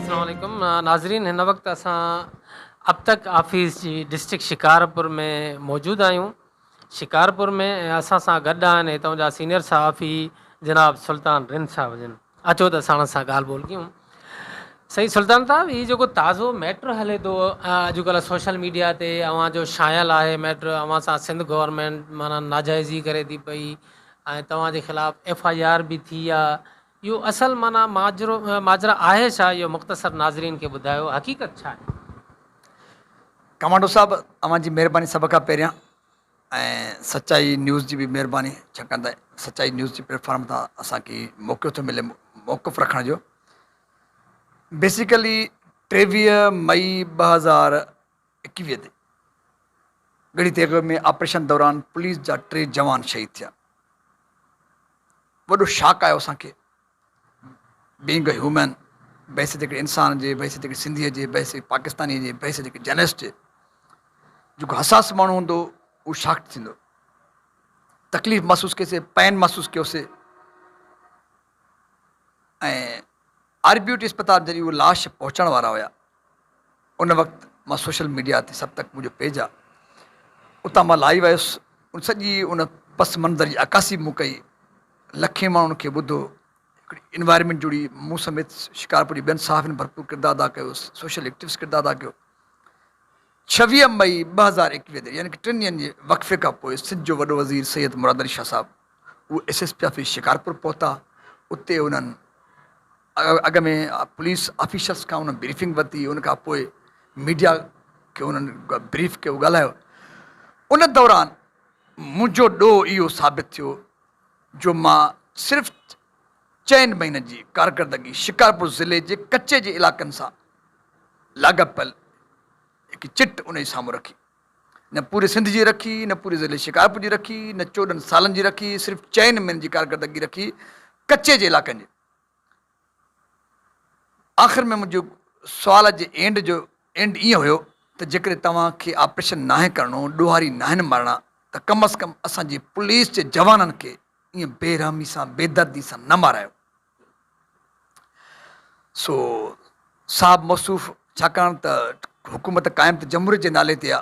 اسلام عليڪم ناظرين هن وقت اسان ابتڪ آفيس جي ڊسٽرڪٽ شڪارپور ۾ موجود آهيون شڪارپور ۾ اسان سان گڏ آهن هتان جا سينيئر صحافي جناب سلطان رند صاحب جن اچو ته ساڻس سان ڳالهه ٻولهه ڪيون. سائين سلطان صاحب هي جيڪو تازو ميٽر هلي ٿو اڄڪلهه سوشل ميڊيا تي اوهان جو شايل آهي ميٽر اوهان سان سنڌ گورنمينٽ معنيٰ ناجائزي ڪري ٿي پئي ۽ توهان جي خلاف ايف آء آر به ٿي آ اهو اصل معنيٰ ماجرو ماجرا آهي ڇا اهو مختصر ناظرين کي ٻڌايو حقيقت ڇا آهي. ڪمانڊو صاحب اوهان جي مهرباني سڀ کان پهريان ۽ سچائي نيوز جي به مهرباني ڇاڪاڻ ته سچائي نيوز جي پليٽفارم تان اسان کي موقعو ٿو ملي موقف رکڻ جو بيسيڪلي ٽيويهه مئي ٻه هزار ايڪويهه تي ڳڙهي تيغ ۾ آپريشن دوران پوليس جا ٽي جوان شهيد ٿيا وڏو شاڪ آيو اسان کي بينگ اي هيومن، بحيثيت هڪڙي انسان جي، بحيثيت هڪڙي سنڌيء جي، بحيثيت هڪ پاڪستانيء جي، بحيثيت هڪ جرنلسٽ جي، جيڪو حساس ماڻهو هوندو اهو شاڪڊ ٿيندو، تڪليف محسوس ڪيوسي، پين محسوس ڪيوسي ۽ آربيوٽي اسپتال جڏهن اهي لاش پهچائڻ وارا هيا. ان وقت مان سوشل ميڊيا تي سب تڪ منهنجو پيج آ اتان مان لائيو آيس ان سڄي ان پس منظر جي عڪاسي مون ڪئي لکين ماڻهن کي ٻڌو هڪڙي انوائرمينٽ جڙي مون سميت شڪارپور جي ٻين صحافين ڀرپور ڪردار ادا ڪيو سوشل ايڪٽوس ڪردار ادا ڪيو ڇويهه مئي ٻه هزار ايڪويهه تي يعني ٽن ڏينهن جي وقفي کان پوء سنڌ جو وڏو وزير سيد مراد علي شاهه صاحب اهو S S P office Shikarpur پهتا اتي انهن اڳ ۾ پوليس آفيسرز کان انهن بريفنگ ورتي، ان کان پوء ميڊيا کي انهن بريف ڪيو، ڳالهايو. ان دوران منهنجو ڏوهه اهو ثابت ٿيو جو مان صرف چئن مهينن جي ڪارڪردگي شڪارپور ضلعي جي ڪچي جي علائقن سان لاڳاپيل هڪ چٽ انهي سامهون رکي. نه پوري سنڌ جي رکي، نه پوري ضلعي شڪارپور جي رکي، نه چوڏهن سالن جي رکي، صرف چئن مهينن جي ڪارڪردگي رکي ڪچي جي علائقن جي. آخر ۾ منهنجي سوال جي اينڊ جو اينڊ ائين هيو ته جيڪڏهن توهان کي آپريشن ناهي ڪرڻو، ڏوهاري ناهن مارڻا ته ڪم از ڪم اسان جي پوليس جي جوانن کي ائين بي رحمي سان بي دردي سان نه مارايو. سو صاحب موصوف ڇاڪاڻ ته حڪومت قائم ته جمهوريت جي نالي تي آ.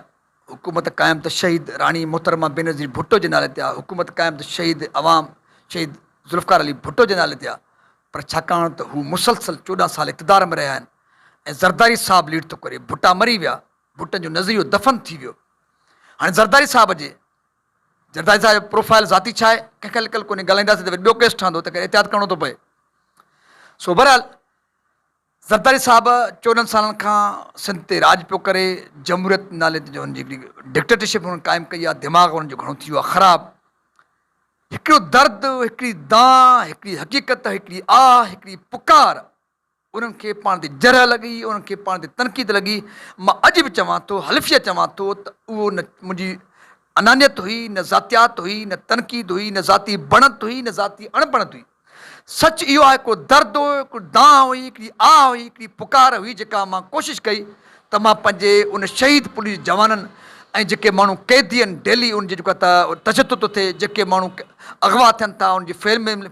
حڪومت قائم ته شهيد راڻي محترمه بينظير ڀٽو جي نالي تي آ، حڪومت قائم ته شهيد عوام شهيد ذوالفقار علي ڀٽو جي نالي تي آ پر ڇاڪاڻ ته هو مسلسل چوڏهن سال اقتدار ۾ رهيا آهن ۽ زرداري صاحب ليڊ ٿو ڪري ڀٽا مري ويا ڀٽن جو نظريو دفن ٿي ويو هاڻي زرداري صاحب جي زرداري صاحب جو پروفائل ذاتي ڇا آهي ڪنهن کي لڪل ڪونهي ڳالهائينداسين ته وري ٻيو ڪيس ٺهندو تنهن ڪري احتياط ڪرڻو ٿو پئي سو بهرحال زرداري صاحب چوڏهن سالن کان سنڌ تي راڄ پيو ڪري، جمهوريت نالي تي جو هن جي هڪڙي ڊڪٽيٽرشپ هنن قائم ڪئي آ، دماغ هنن جو گهڻو ٿي ويو آ خراب. هڪڙو درد، هڪڙي دانهن، هڪڙي حقيقت، هڪڙي آهه، هڪڙي پڪار، انهن کي پاڻ تي جرح لڳي، انهن کي پاڻ تي تنقيد لڳي، مان اڄ به چوان ٿو، حلفيه چوان ٿو ته اهو نه منهنجي انانيت هئي، نه ذاتيات هئي، نه تنقيد هئي، نه ذاتي بڻت هئي، نه ذاتي اڻبڻت هئي. سچ اهو آهي هڪڙو درد هو، هڪڙي دانهن هئي، هڪڙي آهه هئي، هڪڙي پڪار هئي جيڪا مان ڪوشش ڪئي ته مان پنهنجي ان شهيد پوليس جوانن ۽ جيڪي ماڻهو قيدي آهن ڊيلي ان جي جيڪو تشدد ٿو ٿئي، جيڪي ماڻهو اغوا ٿين ٿا انهن جي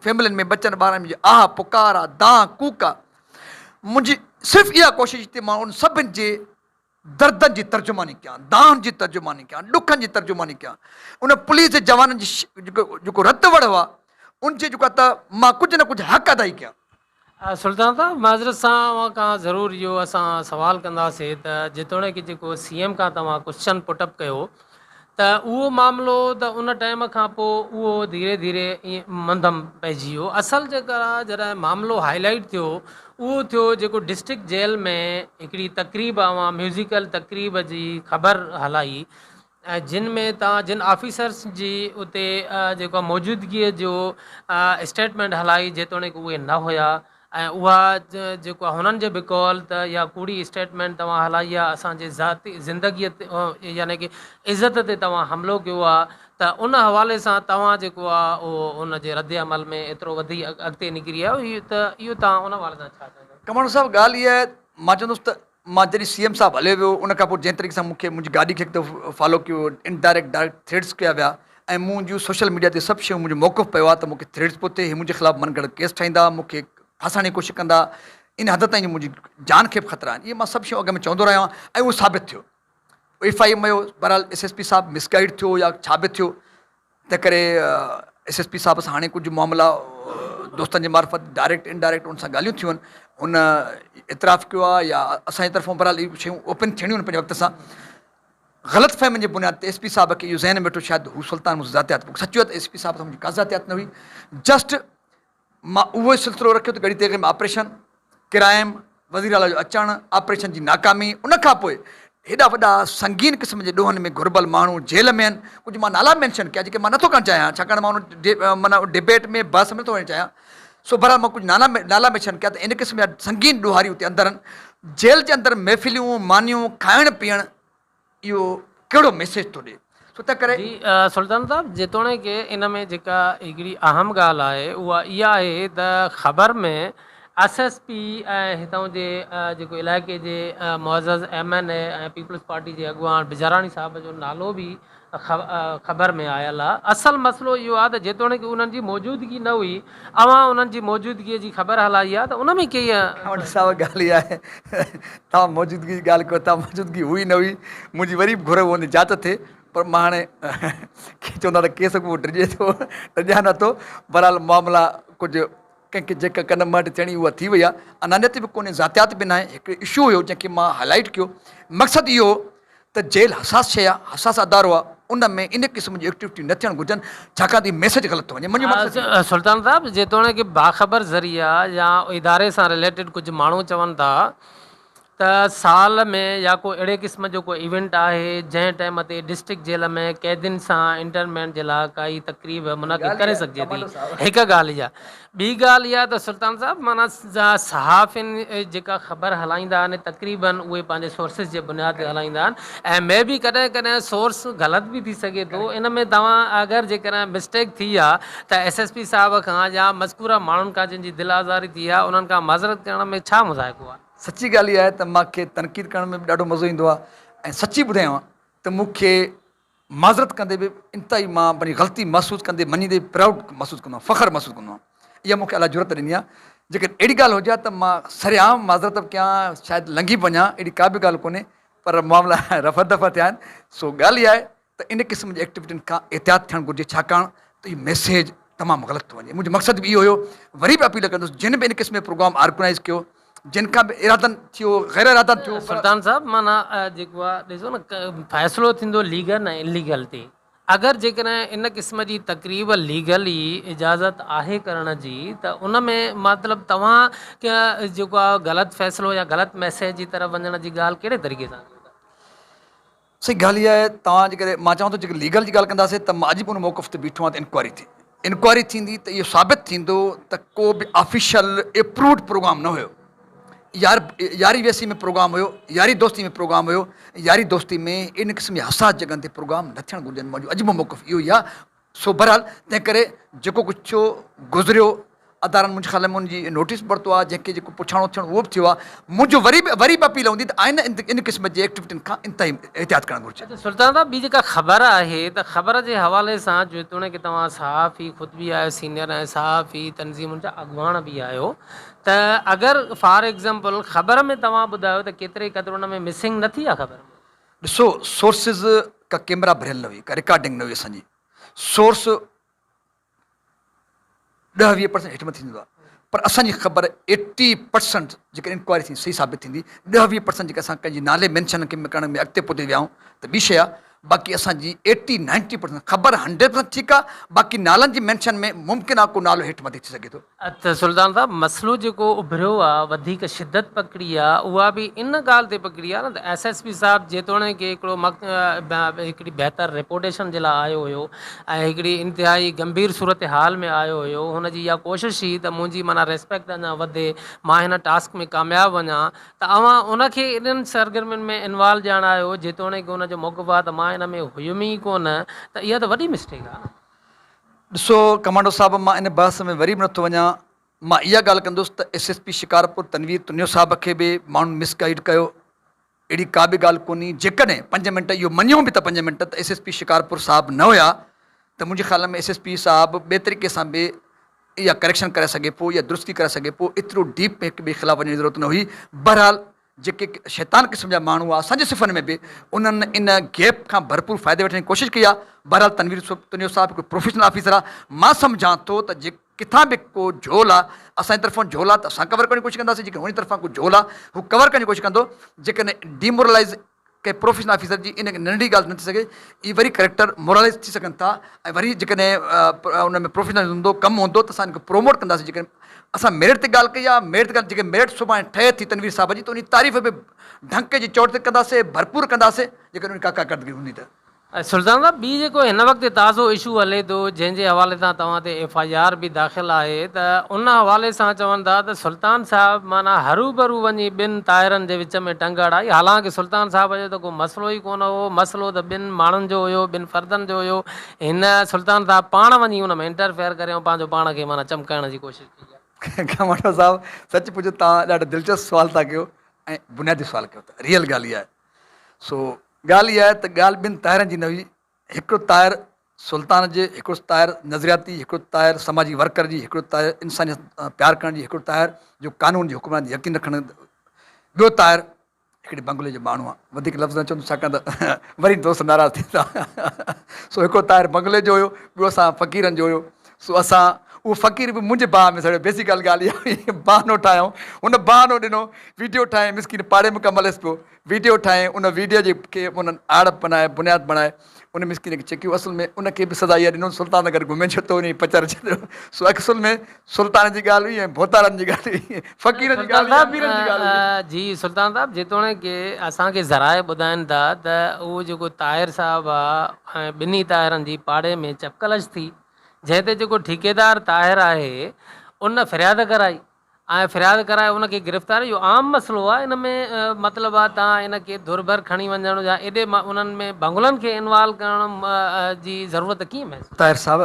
فيملين ۾ ٻچن ٻارن ۾ جي آهه پڪار آهي، دانهن ڪوڪ آهي، منهنجي صرف اها ڪوشش هئي ته مان انهن سڀن جي. دردن جي ترجماني ڪيان، دانهن جي ترجماني ڪيان، ڏکن جي ترجماني ڪيان. ان پوليس جي جوانن جي جيڪو رت وڙهه آهي، ان جي جيڪو ته مان ڪجهه نه ڪجهه حق ادائي ڪيان. سلطان صاحب، معذرت سان اوهان کان ضرور اهو اسان سوال ڪنداسين ته جيتوڻيڪ جيڪو سي ايم کان توهان ڪوسچن پٽ اپ ڪيو، ته اهو معاملو ته ان ٽائيم کان پوء اهو ڌيري ڌيري ائين منڌم پئجي ويو. اصل جيڪا جڏهن معاملو هائي لائيٽ ٿيو اهو ٿيو جيڪو ڊسٽرڪٽ جيل ۾ هڪڙي تقريب اوهان ميوزيڪل تقريب جي خبر هلائي ۽ جن ۾ توهان جن آفيسرس جي اتي جيڪو موجودگيء جو اسٽيٽمينٽ هلائي جيتوڻيڪ اهي نه هيا ۽ اها جيڪو هنن جي به قول ته اها ڪوڙي اسٽيٽمينٽ توهان هلائي آ اسان جي ذاتي زندگي يعني ڪي عزت تي توهان حملو ڪيو آ ته ان حوالي سان توهان جيڪو آ اهو ان جي رد عمل ۾ ايترو وڌي اڳتي نڪري آيو ته اهو توهان ان حوالي سان ڇا چوندو. ڪماڻو صاحب ڳالهه اها آهي مان چوندس ته مان جڏهن سي ايم صاحب هليو ويو ان کان پوء جنهن طريقي سان مون کي منهنجي گاڏي کي هڪ دفعو فالو ڪيو ويو ان ڊائريڪٽ ڊائريڪٽ ٿريڊز ڪيا ويا ۽ مون جون سوشل ميڊيا تي سڀ شيون منهنجو موقف پيو آهي ته مون کي ٿريڊز پيو ٿئي هي منهنجي خلاف من گهڙت ڪيس ٺاهيندا مون کي ڦاسائڻ جي ڪوشش ڪندا ان حد تائين جو منهنجي جان کي به خطرا آهن اهي مان سڀ شيون اڳ ۾ چوندو رهيو آهيان ۽ اهو ثابت ٿيو ايف آء ايم هيو بهرحال ايس ايس پي صاحب مسگائيڊ ٿيو يا ڇا به ٿيو تنهن ڪري ايس ايس پي صاحب سان هاڻي ڪجهه معاملا دوستن جي معرفت ڊائريڪٽ ان ڊائريڪٽ ان سان ڳالهيون ٿيون ان اعتراف ڪيو آهي يا اسان جي طرفون بهرحال اهي شيون اوپن ٿيڻيون آهن پنهنجي وقت سان غلط فهمين جي بنياد تي ايس پي صاحب کي اهو ذهن ۾ ويٺو شايد هو سلطان مون سان ذاتيات سچ چيو ته ايس پي صاحب سان منهنجي ڪا ذاتيات نه هئي جسٽ مان اهو ئي سلسلو رکيو ته ڳڙهي تيغي ۾ آپريشن، ڪرائم، وزير اعليٰ جو اچڻ، آپريشن جي ناڪامي، ان کان پوء هيڏا وڏا سنگين قسم جي ڏوهن ۾ گهربل ماڻهو جيل ۾ آهن، ڪجهه مان نالا مينشن ڪيا جيڪي مان نٿو ڪرڻ چاهيان ڇاڪاڻ مان ان ڊبيٽ ۾ بحث ۾ نٿو وڃڻ چاهيان سو بهرحال مان ڪجهه نالا ميشن ڪيا ته ان قسم جا سنگين ڏوهاري اتي اندر آهن جيل جي اندر محفليون مانيون کائڻ پيئڻ اهو ڪهڙو ميسيج ٿو ڏي سو تنهن ڪري. جي سلطان صاحب جيتوڻيڪ ان ۾ جيڪا هڪڙي اهم ڳالهه آهي اها اها آهي ته خبر ۾ ايس ايس پي ۽ هتان جي جيڪو علائقي جي معزز M N A ۽ Peoples Party جي اڳواڻ بجاراڻي صاحب جو نالو به خبر ۾ آيل آ. اصل مسئلو اهو آ ته جيتوڻيڪ انهن جي موجودگي نه هئي، اوهان انهن جي موجودگيء جي خبر هلائي آ ته ان ۾ ڪيئن. اوهان وٽ سائو ڳالهه ئي آهي. توهان موجودگيء جي ڳالهه ڪيو، توهان موجودگي هئي نه هئي، منهنجي وري به گهر هوندي جاچ ٿئي، پر مان هاڻي ڪي چوندا ته ڪيس اڳوپو ڊڄي ٿو، ڊڄان نه ٿو. بهرحال معاملا ڪجهه ڪنهن کي جيڪا ڪن مهٽ ٿيڻي اها ٿي وئي آ. انانيت به ڪونهي، ذاتيات به ناهي، هڪڙو اشو هيو جنهن کي مان هائلائيٽ ڪيو. مقصد اهو هو ته جيل حساس شيء آ، حساس ادارو آ، ان ۾ ان قسم جون ايڪٽويٽيون نه ٿيڻ گهرجن، ڇاڪاڻ ته اهو ميسيج غلط ٿو وڃي، منهنجو مقصد اهو آ. سلطان صاحب، جيتوڻيڪ باخبر ذريعا يا اداري سان رليٽيڊ ڪجهه ماڻهو چون ٿا ته سال ۾ يا ڪو اهڙي قسم جو ڪو ايونٽ آهي جنهن ٽائيم تي ڊسٽرڪٽ جيل ۾ قيدين سان انٽرمينٽ جي لاء ڪائي تقريب منعقد ڪري سگهجي ٿي، هڪ ڳالهه اها. ٻي ڳالهه اها ته سلطان صاحب معنيٰ صحافين جيڪا خبر هلائيندا آهن تقريباً اهي پنهنجي سورسز جي بنياد تي هلائيندا آهن ۽ مي بي ڪڏهن ڪڏهن سورس غلط به ٿي سگهي ٿو ان ۾ توهان اگر جيڪڏهن مسٽيڪ ٿي آ ته ايس ايس پي صاحب کان يا مذڪوره ماڻهن کان جن جي دل آزاري ٿي آ انهن کان معذرت ڪرڻ ۾ ڇا مضايقو آ. سچي ڳالهه اها آهي ته مان کي تنقيد ڪرڻ ۾ به ڏاڍو مزو ايندو آهي ۽ سچي ٻڌايان ته مون کي معذرت ڪندي به انتهائي مان پنهنجي غلطي محسوس ڪندي مڃيندي به پرائوڊ محسوس ڪندو آهيان فخر محسوس ڪندو آهيان اها مون کي الله جرئت ڏني آهي جيڪڏهن اهڙي ڳالهه هجي ها ته مان سر عام معذرت به ڪيان ها شايد لنگهي به وڃان اهڙي ڪا به ڳالهه ڪونهي پر معاملا رفع دفع ٿيا آهن سو ڳالهه اها آهي ته ان قسم جي ايڪٽيوٽين کان احتياط ٿيڻ گهرجي ڇاڪاڻ ته اهو ميسيج تمام غلط ٿو وڃي منهنجو مقصد به اهو هيو وري به اپيل ڪندس جن به ان قسم جو پروگرام آرگنائيز ڪيو جن کان به ارادن ٿيو غير ارادن ٿيو پر. سلطان صاحب معنيٰ جيڪو آ ڏسو نه فيصلو ٿيندو ليگل ۽ ان ليگل تي اگر جيڪڏهن ان قسم جي تقريب ليگل ئي اجازت آهي ڪرڻ جي ته ان ۾ مطلب توهان ڪي جيڪو آ غلط فيصلو يا غلط ميسيج جي طرف وڃڻ جي ڳالهه ڪهڙي طريقي سان ڪيو ٿا. سائين ڳالهه اها آهي توهان جيڪڏهن مان چوان ٿو جيڪڏهن ليگل جي ڳالهه ڪنداسين ته مان اڄ به ان موقف تي بيٺو آهيان ته انڪوائري ٿي انڪوائري ٿيندي ته اهو ثابت ٿيندو ته ڪو به آفيشل ايپرووڊ پروگرام نه هيو يار ياري ويسي ۾ پروگرام هيو ياري دوستي ۾ پروگرام هيو ياري دوستي ۾ ان قسم جي حساس جڳهن تي پروگرام نه ٿيڻ گهرجن منهنجو اڄ به موقف اهو ئي آهي سو بھرحال تنهن ڪري جيڪو ڪجھ ٿيو گذريو ادارن منهنجي خيال ۾ ان جي نوٽيس به ورتو آهي جنهن کي جيڪو پڇاڻو ٿيڻو اهو به ٿيو آهي منهنجو وري به وري به اپيل هوندي ته آئنده ان قسم جي ايڪٽويٽين کان انتهائي احتياط ڪرڻ گھرجي. اچا سلطان صاحب ٻي جيڪا خبر آهي ته خبر جي حوالي سان جيتوڻيڪ توهان صحافي خود به آهيو سينئر ۽ صحافي تنظيمن جا اڳواڻ به آهيو ته اگر فار ايگزامپل خبر ۾ توهان ٻڌايو ته ڪيتري قدر ان ۾ مسنگ نه ٿي آهي خبر ۾ ڏسو سورسز ڪا ڪيمرا ڀريل نه هئي ڪا رڪارڊنگ نه هئي اسان جي سورس ڏهه ويهه پرسنٽ هيٺ مٿي ٿيندو آهي پر اسان جي خبر ايٽي پرسنٽ جيڪا انڪوائري ٿي صحيح ثابت ٿيندي ڏهه ويهه پرسنٽ جيڪا اسان ڪنهن جي نالي مينشن ڪرڻ ۾ اڳتي پوتي ويا آهيون ته ٻي شي آهي باقي اسان جي ايٽي نائنٽي پرسنٽ خبر هنڊريڊ پرسنٽ ٺيڪ آهي باقي نالن جي مينشن ۾ ممڪن آهي ڪو نالو هيٺ مٿي ٿي سگهي ٿو ته سلطان صاحب مسئلو جيڪو اڀريو آ وڌيڪ شدت پڪڙي آ اها به ان ڳالهه تي پڪڙي آ نه ته ايس ايس پي صاحب جيتوڻيڪ هڪڙو هڪڙي بهتر رپوٽيشن جي لاء آيو هيو ۽ هڪڙي انتهائي گنڀير صورتحال ۾ آيو هيو هن جي اها ڪوشش هئي ته منهنجي معنيٰ ريسپيڪٽ اڃا وڌي مان هن ٽاسڪ ۾ ڪامياب وڃان ته اوهان ان کي انهن سرگرمين ۾ انوالو ڄاڻايو جيتوڻيڪ ان جو موقف آ ته مان ان ۾ هيم ئي ڪونه ته اها ته وڏي مسٽيڪ آ نه. ڏسو ڪمانڊو صاحب مان ان بحث ۾ وري به نٿو وڃان، مان اها ڳالهه ڪندس ته S S P Shikarpur Tanveer Tunio صاحب کي به ماڻهن مس گائيڊ ڪيو، اهڙي ڪا به ڳالهه ڪونهي، جيڪڏهن پنج منٽ اهو مڃيون به ته پنج منٽ ته ايس ايس پي شڪارپور صاحب نه هيا ته منهنجي خيال ۾ ايس ايس پي صاحب ٻئي طريقي سان به اها ڪريڪشن ڪرائي سگهي پيو يا درستي ڪرائي سگهي پيو ايترو ڊيپ هڪ ٻئي خلاف وڃڻ جي ضرورت نه هئي بهرحال جيڪي شيطان قسم جا ماڻهو آ اسان جي صفن ۾ به انهن ان گيپ کان ڀرپور فائدي وٺڻ جي ڪوشش ڪئي آ بهرحال تنوير تنيو صاحب هڪڙو پروفيشنل آفيسر آ مان سمجهان ٿو ته جي ڪٿان به ڪو جهول آ اسان جي طرفان جهول آ ته اسان ڪور ڪرڻ جي ڪوشش ڪنداسين جيڪڏهن هن جي طرفان ڪو جهول آ هو ڪور ڪرڻ جي ڪوشش ڪندو جيڪڏهن ڊيمورلائيز ڪنهن پروفيشنل آفيسر جي ان ننڍڙي ڳالهه نه ٿي سگهي، اهي وري ڪريڪٽر موراليز ٿي سگهن ٿا ۽ وري جيڪڏهن ان ۾ پروفيشنلزم هوندو، ڪم هوندو ته اسان ان کي پروموٽ ڪنداسين، جيڪڏهن اسان ميرٽ تي ڳالهه ڪئي آهي، ميرٽ تي ڳالهه جيڪڏهن ميرٽ سڀاڻي ٺهي ٿي تنوير صاحب جي ته ان جي تعريف به ڍنڪ جي چوٽ تي ڪنداسين، ڀرپور ڪنداسين، جيڪڏهن ان جي ڪا ڪارڪردگي هوندي ته. سلطان صاحب ٻي جيڪو هن وقت تازو اشو هلي ٿو جنهن جي حوالي سان توهان تي ايف آء آر به داخل آهي ته ان حوالي سان چون ٿا ته سلطان صاحب معنيٰ هروبرو وڃي ٻن طاهرن جي وچ ۾ ٽنگ اڙائي حالانڪه سلطان صاحب جو ته ڪو مسئلو ئي ڪونه هو مسئلو ته ٻن ماڻهن جو هيو ٻن فردن جو هيو هن سلطان صاحب پاڻ وڃي ان ۾ انٽرفيئر ڪري ۽ پنهنجو پاڻ کي معنيٰ چمڪائڻ جي ڪوشش ڪئي آهي. کماڻو صاحب سچ پچ توهان ڏاڍو دلچسپ سوال ٿا ڪيو ۽ بنيادي سوال ڪيو ٿا ريئل ڳالهه اها آهي سو ڳالهه اها آهي ته ڳالهه ٻن طاهرن جي نه هئي، هڪڙو طاهر سلطان جي، هڪڙو طاهر نظرياتي، هڪڙو طاهر سماجي ورڪر جي، هڪڙو طاهر انسانيت سان پيار ڪرڻ جي، هڪڙو طاهر جو قانون جي حڪمراني تي يقين رکڻ جي، ٻيو طاهر هڪڙي بنگلي جو ماڻهو آهي، وڌيڪ لفظ نه چوندس ڇاڪاڻ ته وري دوست ناراض ٿيندا، سو هڪڙو طاهر بنگلي جو هيو، ٻيو اسان فقيرن جو هيو، سو اسان اهو فقير به منهنجي باهه ۾ سڙيو بيسڪ ڳالهه ڳالهه اها هئي بهانو ٺاهيائون هن بهانو ڏنو ويڊيو ٺاهيائين مسڪين پاڙي ۾ ڪم هليس پيو ويڊيو ٺاهيائين ان ويڊيو جي کي انهن آڙ بنائي بنياد بڻائي ان مسڪين کي چڪيو اصل ۾ ان کي به سزا اها ڏنو سلطان سان گڏ گهمي ڇو ته انهي پچر ڇڏيو سو اصل ۾ سلطان جي ڳالهه هئي ۽ ڀوتارن جي ڳالهه هئي فقيرن جي ڳالهه هئي اميرن جي ڳالهه هئي. جي سلطان صاحب جيتوڻيڪ اسان کي ذرائع ٻڌائين ٿا ته اهو جيڪو طاهر صاحب آهي ۽ ٻنهي طاهرن جي پاڙي ۾ چپڪلش ٿي جنهن تي جيڪو ٺيڪيدار طاهر آهي ان فرياد ڪرائي ۽ فرياد ڪرائي ان کي گرفتار اهو عام مسئلو آهي ان ۾ مطلب آهي تان ان کي ڌر ڀر کڻي وڃڻ يا ايڏي انهن ۾ ڀنگلن کي انوالو ڪرڻ جي ضرورت ڪيئن محسوس طاهر صاحب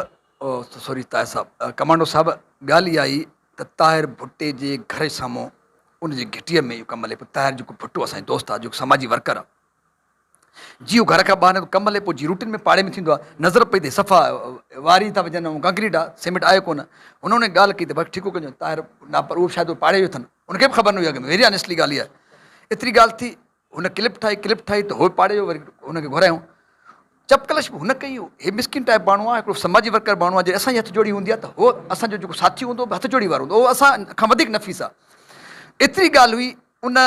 سوري طاهر صاحب ڪمانڊو صاحب ڳالهه اها آهي ته طاهر ڀٽي جي گهر جي سامهون ان جي گهٽيء ۾ اهو ڪم هلي پيو طاهر جيڪو ڀٽو اسان جي دوست آهي جيڪو سماجي ورڪر آهي جيئو گهر کان ٻاهر ڪم هلي پوء جي روٽين ۾ پاڙي ۾ ٿيندو آهي نظر پئي ته صفا واري ٿا وجهن ۽ ڪنڪريٽ آهي سيمنٽ آهي ڪونه هن انهي ڳالهه ڪئي ته ڀرت ٺيڪو ڪجو طاهر نه پر اهو به شايد پاڙي جو اٿن ان کي به خبر نه هئي اڳ ۾ ويري آنيسٽلي ڳالهه هي آهي ايتري ڳالهه ٿي هن ڪلپ ٺاهي ڪلپ ٺاهي ته هوء پاڙي جو وري هن کي گهرايائون چپڪلش به هن ڪئي هي مسڪين ٽائيپ ماڻهو آهي هڪڙو سماجي ورڪر ماڻهو آهي جي اسان جي هٿ جوڙي هوندي آهي ته هوء اسان جو جيڪو ساٿي هوندو هو به هٿ جوڙي وارو هوندو اهو اسان کان وڌيڪ نفيس آهي ايتري ڳالهه هئي ان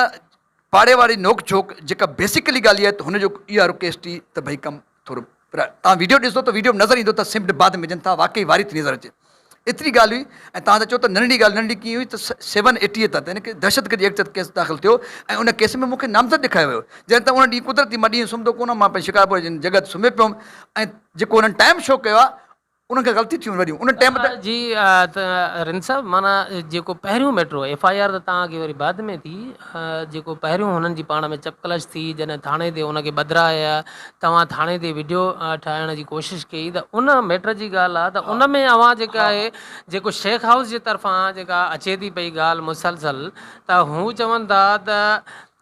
پاڙي واري نوڪ جھوڪ جيڪا بيسيڪلي ڳالھي ته ھن جو اھو آھي رڪيش ٽي ته ڀئي ڪم ٿورو پر توھان ويڊيو ڏسدو ته ويڊيو ۾ نظر ايندو ته سمڊ بعد ۾ وجھن ٿا واقعي واري ٿي نظر اچي ايتري ڳالھه ھئي ۽ توھان ته چئو ته ننڍڙي ڳالھه ننڍڙي ڪيئن ھئي ته سيون ايٽيء تحت يعني ڪي دھشت گردي ايڪٽ تحت ڪيس داخل ٿيو ۽ ان ڪيس ۾ مون کي نامزد ڏيکاريو ويو جڏھن ته ان ڏينھن قدرتي مان ڏينھن سمھندو ڪونه ھئم مان پنھنجي شڪارپور جي جڳھه تي سمھي پيو ھئم ۽ جيڪو ھنن ٽائيم شو ڪيو آھي انهن کي غلطي ٿيون وڏيون ان ٽيم تي. جي رند صاحب معنيٰ جيڪو پهريون ميٽرو ايف آئي آر ته تان کي وري بعد ۾ ٿي جيڪو پهريون هنن جي پاڻ ۾ چپ ڪلش ٿي جڏهن ٿاڻي تي ان کي ٻڌرايا توهان ٿاڻي تي ويڊيو ٺاهڻ جي ڪوشش ڪئي ته ان ميٽر جي ڳالهه آ ته ان ۾ اوهان جيڪا آهي جيڪو شيخ هائوس جي طرفان جيڪا اچي ٿي پئي ڳالهه مسلسل ته هو چون ٿا ته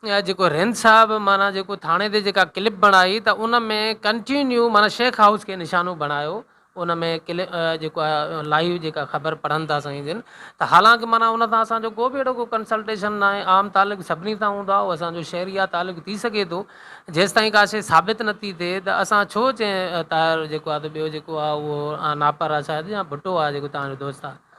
اها جيڪو رند صاحب معنيٰ جيڪو ٿاڻي تي جيڪا ڪلپ بڻائي ته ان ۾ ڪنٽينيو معنيٰ شيخ هائوس کي نشانو بڻايو ان ۾ ڪلپ جيڪو آهي لائيو جيڪا خبر پڙهن ٿا سائين جن ته حالانڪه معنيٰ ان سان اسان جو ڪو به اهڙو ڪو ڪنسلٽيشن نه آهي عام تعلق سڀني سان هوندو آهي اهو اسان جو شهري آهي تعلق ٿي سگهي ٿو جيستائين ڪا شيء ثابت نه ٿي ٿئي ته اسان ڇو چئين طاهر جيڪو آهي ته ٻيو جيڪو آهي اهو ناپر آهي شايد يا ڀٽو آهي جيڪو تهان جو دوست آهي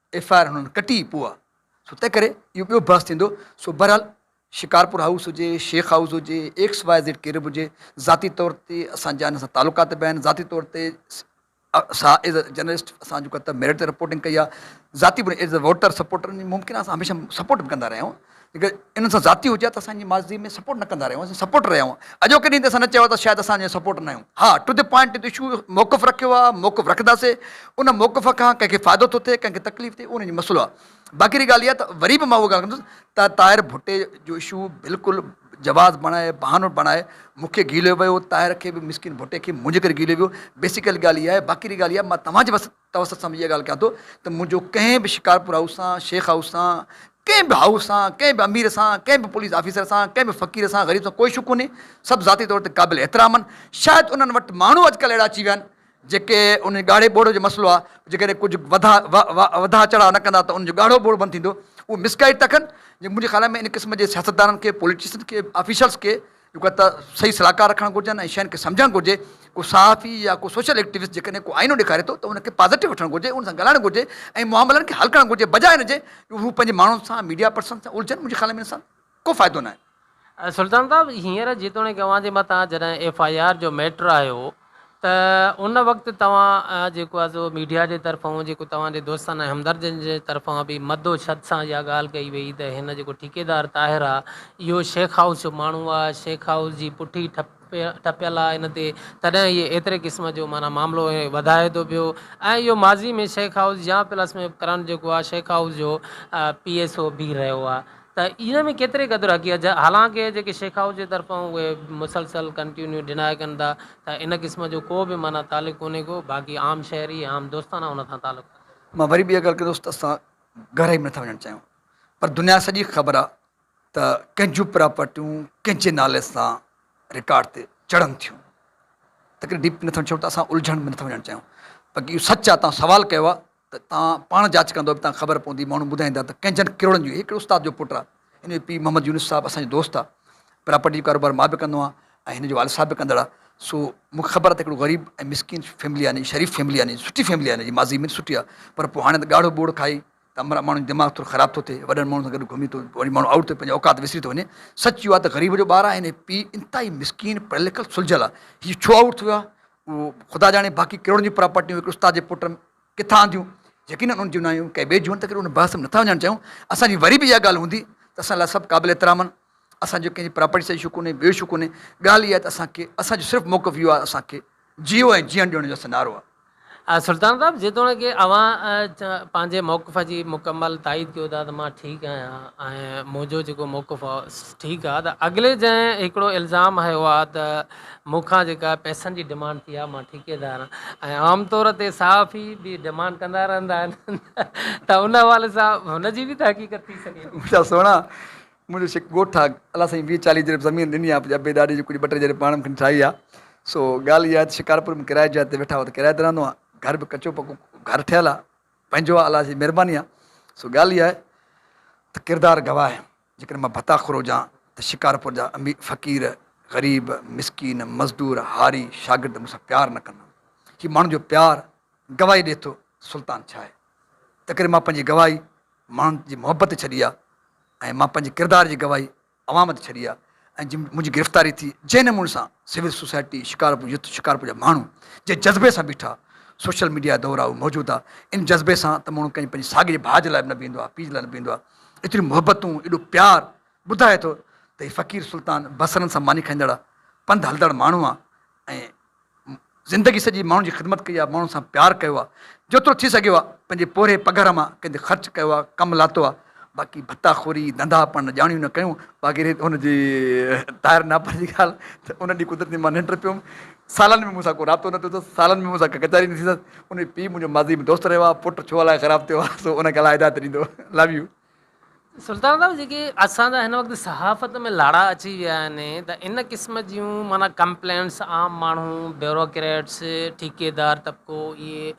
ايف آء آر هنن ڪٽي پوء سو تنهن ڪري اهو ٻيو بحث ٿيندو سو بهرحال شڪارپور هائوس هجي شيخ هائوس هجي ايڪس واء زيڊ ڪير به هجي ذاتي طور تي اسان جا هن سان تعلقات به آهن ذاتي طور تي سا ايز اي جرنلسٽ اسان جيڪو ته ميرٽ تي رپورٽنگ ڪئي آهي ذاتي به ايز اي ووٽر سپورٽر ممڪن آهي اسان هميشه سپورٽ به ڪندا رهيا آهيون جيڪڏهن انهن سان زيادتي هجي ها ته اسان انهن جي ماضي ۾ سپورٽ نه ڪندا رهيا هئاسين، سپورٽر رهيا هئا، اڄوڪي ڏينهن تي اسان نه چيو آهي ته شايد اسان انهن جا سپورٽر نه آهيون، ها to the point to the issue موقف رکيو آهي، موقف رکنداسين، ان موقف کان ڪنهن کي فائدو ٿو ٿئي ڪنهن کي تڪليف ٿئي اهو انهن جو مسئلو آهي، باقي رهي ڳالهه اها ته وري به مان اها ڳالهه ڪندس ته طاهر ڀٽي جو اشو بلڪل جواز بڻائي بهانو بڻائي مون کي گيليو ويو، طاهر کي به مسڪين ڀٽي کي به منهنجي ڪري گيليو ويو، بيسڪل ڳالهه اها آهي، باقي رهي ڳالهه اها مان توهان جي وس. توسط سان به اها ڳالهه ڪيان ٿو ته منهنجو ڪنهن به شڪارپور هائوس سان، شيخ هائوس سان، ڪنهن به هائوس سان، ڪنهن به امير سان، ڪنهن به پوليس آفيسر سان، ڪنهن به فقير سان، غريب سان ڪوئي شڪ ڪونهي. سڀ ذاتي طور تي قابل احترام آهن. شايد انهن وٽ ماڻهو اڄڪلهه اهڙا اچي ويا آهن جيڪي انهن جي ڳاڙهي ٻوڙ جو مسئلو آهي جيڪڏهن ڪجهه وڌا وڌا چڙها نه ڪندا ته انهن جو ڳاڙهو ٻوڙ بند ٿيندو. اهو مسگائيڊ ٿا ڪن. منهنجي خيال ۾ ان قسم جي سياستدانن کي، پوليٽيشنس کي، آفيشلس کي، جيڪا ته صحيح صلاحڪار رکڻ گهرجن ۽ شين کي سمجهڻ گهرجي ڪو صحافي يا ڪو سوشل ايڪٽيوسٽ جيڪڏهن ڪو آئينو ڏيکاري ٿو ته ان کي پازيٽو وٺڻ گهرجي ان سان ڳالهائڻ گهرجي ۽ معاملن کي حل ڪرڻ گهرجي بجاء ان جي جو هو پنهنجي ماڻهن سان ميڊيا پرسن سان الجهن منهنجي خيال ۾ ان سان ڪو فائدو ناهي. سلطان صاحب هينئر جيتوڻيڪ اوهان جي مٿان جڏهن ايف آء آر جو ميٽر آيو ته ان وقت توهان جيڪو آهي سو ميڊيا جي طرفان جيڪو توهان جي دوستن ۽ همدردن جي طرفان به مد و شد سان اها ڳالهه ڪئي وئي ته هن جيڪو ٺيڪيدار طاهر آهي اهو شيخ هائوس جو ماڻهو آهي شيخ هائوس جي پٺي ٺپيل آهي هن تي تڏهن اهي ايتري قسم جو معنيٰ معاملو وڌائي ٿو پيو ۽ اهو ماضي ۾ شيخ هائوس يا پلس ۾ ڪرڻ جيڪو آهي شيخ هائوس جو پي ايس او به رهيو آهي ته ان ۾ ڪيتري قدر حقيقت جا حالانڪ جيڪي شيخ هائوس جي طرفان اهي مسلسل ڪنٽيونيو ڊناء ڪن ٿا ته ان قسم جو ڪو به معنيٰ تعلق ڪونهي ڪو باقي عام شهري ۽ عام دوستانه ان سان تعلق رکن ٿا. مان وري به اها ڳالهه ڪندس ته اسان گهرائي ۾ نٿا وڃڻ چاهيون پر دنيا سڄي کي خبر آهي ته ڪنهن جون پراپرٽيون ڪنهن جي نالي سان رڪارڊ تي چڙهن ٿيون تنهنڪري ڊيپ ۾ نٿا وڃڻ چاهيون ته اسان الجهڻ ۾ نٿا وڃڻ چاهيون باقي اهو سچ آهي توهان سوال ڪيو آهي ته تان پاڻ جاچ ڪندؤ تان خبر پوندي ماڻهو ٻڌائيندا ته ڪئنجهن ڪروڙن جو هڪڙي استاد جو پٽ آ هن جو پيء محمد يونس صاحب اسان جو دوست آ پراپرٽي جو ڪاروبار مان به ڪندو آهيان ۽ هن جو والد صاحب به ڪندڙ آ سو مون کي خبر آ ته هڪڙو غريب ۽ مسڪين فيملي آ هن جي شريف فيملي آ هن جي سٺي فيملي آ هن جي ماضي ۾ سٺي آ پر پوء هاڻي ته ڳاڙهو ٻوڙ کائي ته عمرا ماڻهن جو دماغ ٿورو خراب ٿو ٿئي وڏن ماڻهن سان گڏ گهمي ٿو وڃي ماڻهو آئوٽ ٿو ٿئي پنهنجي اوقات وسري ٿو وڃي سچ اهو آ ته غريب جو ٻار آ هن جو پيء انتهائي مسڪين پڙهيل لکيل سلجهيل آ هي ڇو آئوٽ ٿيو آ اهو خدا ڄاڻي باقي ڪروڙن جون پراپرٽيون هڪ استاد جي پٽ ڪٿان آنديون؟ يقينن انهن جون نه آيون، ڪي ٻئي جون آهن، تنهنڪري ان بحث ۾ نٿا وڃڻ چاهيون. اسان جي وري به اها ڳالهه هوندي ته اسان لاء سڀ قابل احترام آهن. اسان جو ڪنهن جي پراپرٽي سان ايشو ڪونهي، ٻيو ايشو ڪونهي، ڳالهه اها آهي ته اسان کي اسان جو صرف موقف اهو آهي اسان کي جيئو ۽ جيئڻ ڏيو ان جو اسان نعرو آهي. سلطان صاحب جيتوڻيڪ اوهان پنهنجي موقف جي مڪمل تائيد ڪيو ٿا ته مان ٺيڪ آهيان ۽ منهنجو جيڪو موقف آهي ٺيڪ آهي ته اڳلي جنهن هڪڙو الزام هنيو آهي ته مون کان جيڪا پئسن جي ڊمانڊ ٿي آهي، مان ٺيڪيدار آهيان ۽ عام طور تي صحافي به ڊمانڊ ڪندا رهندا آهن ته ان حوالي سان هن جي به ته حقيقت ٿي سگهي ٿي. مٺا سهڻا منهنجو شڪ ڳوٺ آ الله سائين ويهه چاليهه جرب زمين ڏني آ پنهنجي ابي ڏاڏي جي ڪجهه ٻه ٽي جرب پاڻ مونکي ٺاهي آ سو ڳالهه اها آ ته شڪارپور ۾ ڪرايي جاء تي ويٺا آهيون ته ڪرايي تي رهندو آهيان گهر به ڪچو پڪو گهر ٺهيل آ پنهنجو آ الله جي مهرباني آ سو ڳالهه اها آ ته ڪردار گواهه آهن. جيڪڏهن مان ڀتاخور هجان ته شڪارپور جا امير فقير، غريب، مسڪين، مزدور، هاري، شاگرد مون سان پيار نه ڪندا. هي ماڻهن جو پيار گواهي ڏئي ٿو سلطان ڇا آهي. تنهنڪري مان پنهنجي گواهي ماڻهن جي محبت تي ڇڏي آهي ۽ مان پنهنجي ڪردار جي گواهي عوام تي ڇڏي آهي ۽ جي منهنجي گرفتاري ٿي جنهن نموني سان civil society, Shikarpur youth, Shikarpur جا ماڻهو جنهن جذبي سان بيٺا، سوشل ميڊيا دور آهي اهو موجود آهي ان جذبي سان ته ماڻهو ڪنهن پنهنجي ساڳي جي ڀاء جي لاء به نه بيهندو آهي، پيء جي لاء نه بيهندو آهي. ايتريون محبتون، ايڏو پيار، ٻڌائي ٿو ته هي فقير سلطان بصرن سان ماني کائيندڙ، پنڌ هلندڙ ماڻهو آ ۽ زندگي سڄي ماڻهن جي خدمت ڪئي آ، ماڻهن سان پيار ڪيو آ، جيترو ٿي سگهيو آ، پنهنجي پورهئي پگهر مان ڪنهن تي خرچ ڪيو آ، ڪم لاتو آ، باقي ڀتا خوري، ڌنڌا پڻ نه ڄاڻيون نه ڪيون. باقي رهي هن جي طاهر ناپر جي ڳالهه ته ان ڏينهن قدرتي مان ننڊ پيوم. سالن ۾ مون سان ڪو رابطو نه ٿيو اٿس، سالن ۾ مون سان ڪا ڪچهري نه ٿي اٿس، ان جو پيء منهنجو ماضي ۾ دوست رهيو آهي، پٽ ڇو الائي خراب ٿيو آهي، سو ان کي الله هدايت ڏيندو. لو يو. سلطان صاحب جيڪي اسان جا هن وقت صحافت ۾ لاڙا اچي ويا آهن ته ان قسم جون معنيٰ ڪمپلينٽس عام ماڻهو، بيوروڪريٽس، ٺيڪيدار طبقو اهي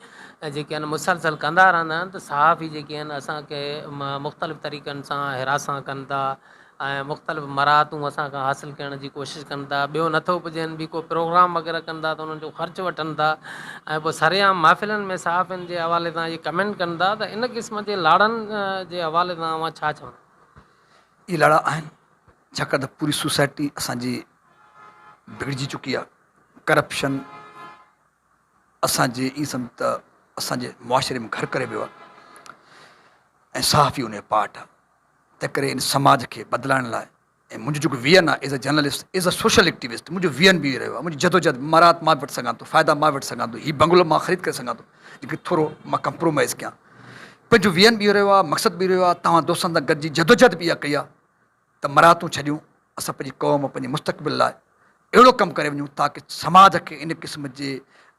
جيڪي آهن مسلسل ڪندا رهندا آهن ته صحافي جيڪي آهن اسان کي مختلف طريقن سان حراسان ڪن ٿا ۽ مختلف مراعتون اسان کان حاصل ڪرڻ جي ڪوشش ڪن ٿا ٻيو نٿو پڄين به ڪو پروگرام وغيره ڪن ٿا ته انهن جو خرچ وٺن ٿا ۽ پوء سرعام محفلن ۾ صحافين جي حوالي سان اهي ڪمينٽ ڪن ٿا ته ان قسم جي لاڙن جي حوالي سان اوهان ڇا چوندا. اهي لاڙا آهن ڇاڪاڻ ته پوري سوسائٽي اسان جي بگڙجي چڪي آهي ڪرپشن اسان جي ائين سمجهه ته اسان جي معاشري ۾ گهر ڪري ويو آهي ۽ صحافي ان جو پارٽ آهي تنهنڪري ان سماج کي بدلائڻ لاء ۽ منهنجو جيڪو ويزن آهي as a journalist, as a social activist منهنجو ويزن به اهو ئي رهيو آهي. منهنجي جدوجهد مراعات مان به وٺي سگهان ٿو، فائدا مان به وٺي سگهان ٿو، هي بنگلو مان خريد ڪري سگهان ٿو ليڪن ٿورو مان ڪمپرومائيز ڪيان. پنهنجو ويزن به اهو رهيو آهي، مقصد به اهو رهيو آهي، توهان دوستن سان گڏجي جدوجهد به اها ڪئي آهي ته مراعاتون ڇڏيون، اسان پنهنجي قوم، پنهنجي مستقبل لاء. اهڙو ڪم ڪري وڃون تاڪه سماج کي ان قسم جي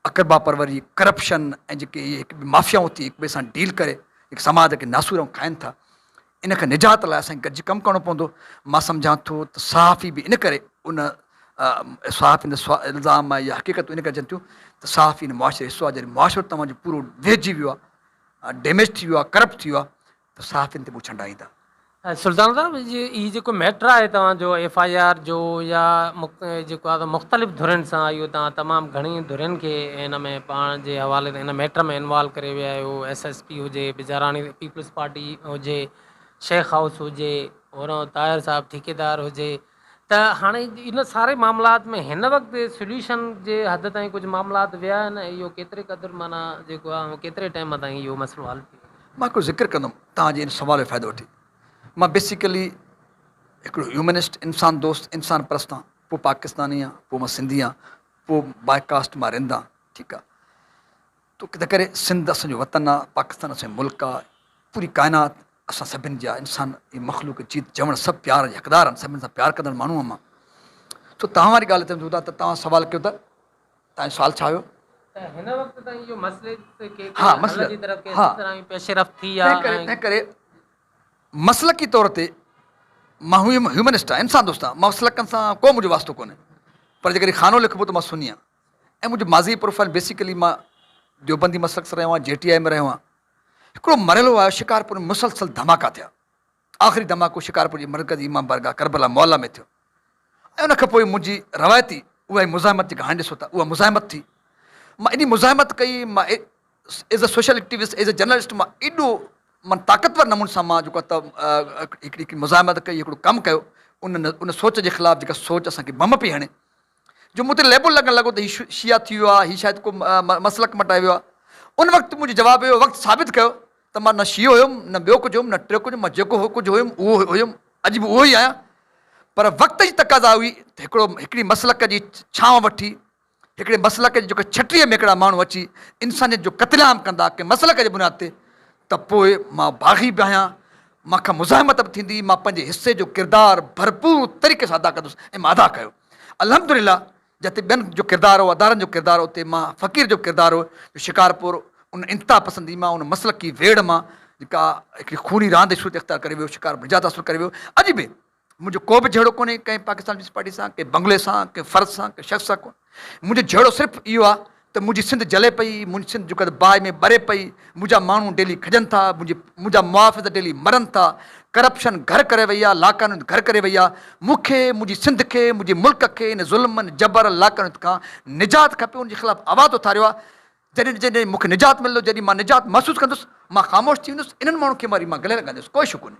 اقربا پروري، ڪرپشن ۽ جيڪي اهي هڪ ٻئي مافيائون ٿي هڪ ٻئي سان ڊيل ڪري جيڪي سماج کي ناسور ۽ کائن ٿا ان کان نجات لاء اسان کي گڏجي ڪم ڪرڻو پوندو. مان سمجهان ٿو ته صحافي به ان ڪري ان صحافين تي سوا الزام آهي يا حقيقتون ان ڪري اچن ٿيون ته صحافي ان معاشري جو حصو آهي جڏهن معاشرو توهان جو پورو ويهجي ويو آهي، ڊيميج ٿي ويو آهي، ڪرپٽ ٿي ويو آهي ته صحافين تي مون ڇنڊائيندا. سلطان صاحب هي جيڪو ميٽر آهي توهان جو ايف آء آر جو يا جيڪو آهي مختلف ڌرين سان اهو توهان تمام گهڻي ڌرين کي ان ۾ پاڻ جي حوالي سان ان ميٽر ۾ انوالو ڪري ويا آهيو ايس ايس پي هجي بجاراڻي پيپلز پارٽي هجي شيخ هائوس هجي هورانهون طاهر صاحب ٺيڪيدار هجي ته هاڻي ان ساري معاملات ۾ هن وقت سليوشن جي حد تائين ڪجهه معاملات ويا آهن ۽ اهو ڪيتري قدر معنيٰ جيڪو آهي ڪيتري ٽائيم تائين اهو مسئلو حل ٿي ويندو. مان هڪڙو ذڪر ڪندم توهان جي ان سوال جو فائدو وٺي. مان بيسيڪلي هڪڙو هيومنسٽ، انسان دوست، انسان پرست آهيان. پوء پاڪستاني آهيان، پوء مان سنڌي آهيان، پوء باء ڪاسٽ مان رند آهيان. ٺيڪ آهي. تنهنڪري سنڌ اسان جو وطن آ، پاڪستان اسان جو ملڪ آ، پوري ڪائنات اسان سڀن جي آ، انسان ۽ مخلوق جيت جوڻ سڀ پيار جا حقدار آهن، سڀن سان پيار ڪندڙ ماڻهو هئم آ. سو توهان واري ڳالهه تي اچون ٿا ته توهان سوال ڪيو ته توهان جو سوال ڇا هيو؟ ته هن وقت تائين اهو مسئلي تي ڪي ڪي حل جي طرف ڪي ڪي طرح پيش رفت ٿي آ ۽ تنهنڪري مسلڪي طور تي مان هيومنسٽ آهيان، انسان دوست آهيان، مسلڪن سان ڪو منهنجو واسطو ڪونهي، پر جيڪڏهن خانو لکبو ته مان سني آهيان. ۽ منهنجو ماضي پروفائيل بيسيڪلي مان ديوبندي مسلڪ سان رهيو آهيان جي ٽي آء ۾ رهيو آهيان هڪڙو مرحلو آيو شڪارپور ۾ مسلسل ڌماڪا ٿيا آخري ڌماڪو شڪارپور جي مرڪزي امام بارگاهه ڪربلا معليٰ ۾ ٿيو ۽ ان کان پوء منهنجي روايتي اها ئي مزاحمت جيڪا هاڻي ڏسو ٿا اها مزاحمت ٿي مان ايڏي مزاحمت ڪئي مان as a social activist as a journalist مان ايڏو مان طاقتور نموني سان مان جيڪو هڪڙي هڪڙي مزاحمت ڪئي هڪڙو ڪم ڪيو ان ان سوچ جي خلاف جيڪا سوچ اسان کي بم پئي هڻي جو مون تي ليبل لڳڻ لڳو ته هي شيعه ٿي ويو آهي، هي شايد ڪو مسلڪ مٽائي ويو آهي. ان وقت منهنجو جواب اهو هو، وقت ثابت ڪيو ته مان نه شيعو هيم، نه ٻيو ڪجهه هيم، نه ٽيو ڪجهه هيم، مان جيڪو ڪجهه هيم اهو هيم، اڄ به اهو ئي آهيان. پر وقت جي تقاضا هئي ته هڪڙو هڪڙي مسلڪ جي ڇانو وٺي، هڪڙي مسلڪ جي جيڪر ڇٽيء ۾ هڪڙا ماڻهو اچي انسانيت جو قتل عام ڪندا ڪنهن مسلڪ جي بنياد تي ته پوء مان باغي به آهيان، مان کان مزاحمت به ٿيندي، مان پنهنجي حصي جو ڪردار ڀرپور طريقي سان ادا ڪندس ۽ مان ادا ڪيو. الحمد لله جتي ٻين جو ڪردار هو ادارن جو ڪردار هو اتي مان فقير جو ڪردار هو جو شڪارپور ان انتها پسندي مان ان مسلڪي ويڙهه مان جيڪا هڪڙي خوني راند شهرت اختيار ڪري ويو شڪارپور نجات حاصل ڪري ويو اڄ به منهنجو ڪو به جهيڙو ڪونهي ڪنهن پاڪستان پيپلز پارٽي سان ڪنهن بنگلي سان ڪنهن فرد سان ڪنهن شخص سان ڪونهي منهنجو جهيڙو صرف اهو آهي ته منهنجي سنڌ جلي پئي، منهنجي سنڌ جوڪر باهه ۾ ٻري پئي، منهنجا ماڻهو ڊيلي کڄن ٿا، منهنجا محافظ ڊيلي مرن ٿا، ڪرپشن گهر ڪري وئي آهي، لاقانونيت گهر ڪري وئي آهي، مون کي، منهنجي سنڌ کي، منهنجي ملڪ کي ان ظلمن، جبر، لاقانونيت کان نجات کپي، ان جي خلاف آواز اٿاريو آهي، جڏهن جڏهن مون کي نجات ملندو، جڏهن مان نجات محسوس ڪندس، مان خاموش ٿي ويندس، انهن ماڻهن کي وري مان گلي لڳائيندس، ڪوئي شڪ ڪونهي.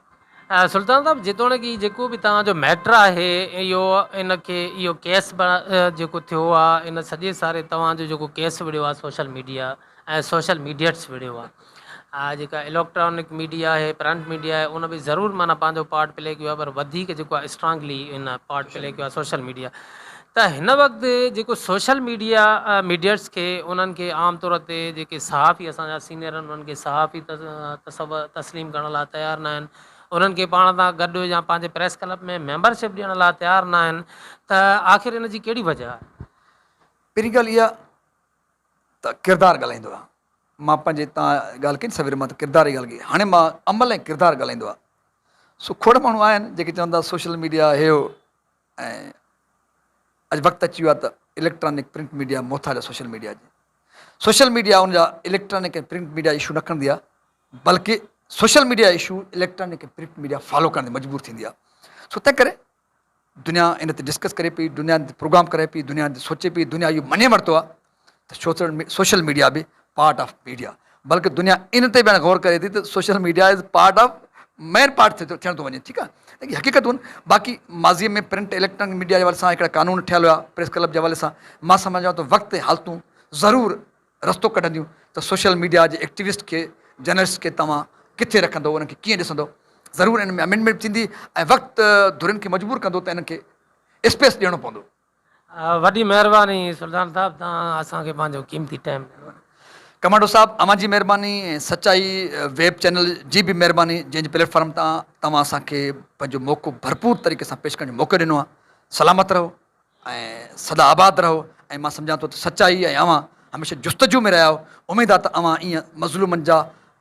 سلطان صاحب جيتوڻيڪ هي جيڪو به توهان جو ميٽر آهي اهو ان کي اهو ڪيس جيڪو ٿيو آ ان سڄي ساري توهان جو جيڪو ڪيس وڙهيو آ سوشل ميڊيا ۽ سوشل ميڊيٽس وڙهيو آ آ جيڪا اليڪٽرانڪ ميڊيا آهي پرنٽ ميڊيا آهي ان به ضرور معنيٰ پنهنجو پارٽ پلي ڪيو آ پر وڌيڪ جيڪو آ اسٽرانگلي ان پارٽ پلي ڪيو آ سوشل ميڊيا ته هن وقت جيڪو سوشل ميڊيا ميڊيئٽس کي انهن کي عام طور تي جيڪي صحافي اسان جا سينئر آهن انهن کي صحافي تصور تسليم ڪرڻ لاء تيار نه آهن انهن کي پاڻ سان گڏ يا پنهنجي پريس ڪلب ۾ ميمبر شپ ڏيڻ لاء تيار نه آهن ته آخر ان جي ڪهڙي وجه آهي؟ پهرين ڳالهه اها ته ڪردار ڳالهائيندو آهي مان پنهنجي تان ڳالهه ڪئي نه سوير مان ته ڪردار جي ڳالهه ڪئي هاڻي مان عمل ۽ ڪردار ڳالهائيندو آهي سو کوڙ ماڻهو آهن جيڪي چون ٿا سوشل ميڊيا هي هو ۽ اڄ وقت اچي ويو آهي ته اليڪٽرانڪ پرنٽ ميڊيا محتاج آهي سوشل ميڊيا جي. سوشل ميڊيا ان جا اليڪٽرانڪ ۽ پرنٽ ميڊيا اشو نه کڻندي آهي بلڪه social media issue electronic ۽ print media follow ڪرڻ تي مجبور ٿيندي آهي سو تنهن ڪري دنيا ان تي ڊسڪس ڪري پئي، دنيا ان تي پروگرام ڪرائي پئي، دنيا ان تي سوچي پئي، دنيا اهو مڃي ورتو آهي ته سوشل سوشل ميڊيا به پارٽ آف ميڊيا بلڪه دنيا ان تي به هاڻي غور ڪري ٿي ته social media is part of main part ٿي ٿيڻ ٿو وڃي ٺيڪ آهي هي حقيقتون آهن باقي ماضي ۾ پرنٽ اليڪٽرانڪ ميڊيا جي حوالي سان هڪڙا قانون ٺهيل هيا پريس ڪلب جي حوالي سان مان سمجهان ٿو ته وقت ۽ حالتون ضرور رستو ڪڍنديون ته سوشل ميڊيا جي ايڪٽيوسٽ کي جرنلسٽ کي توهان ڪٿي رکندو انهن کي ڪيئن ڏسندو ضرور ان ۾ امينڊمينٽ ٿيندي ۽ وقت ڌرين کي مجبور ڪندو ته انهن کي اسپيس ڏيڻو پوندو وڏي مهرباني سلطان صاحب توهان اسان کي پنهنجو قيمتي ٽائيم ڏنو. ڪمانڊو صاحب اوهان جي مهرباني ۽ سچائي ويب چينل جي به مهرباني جنهن جي پليٽ فارم تان توهان اسان کي پنهنجو موقعو ڀرپور طريقي سان پيش ڪرڻ جو موقعو ڏنو آهي سلامت رهو ۽ سدا آباد رهو ۽ مان سمجهان ٿو ته سچائي ۽ اوهان هميشه جستجو ۾ رهيا آهيو اميد آهي ته اوهان ايئن مظلومن جا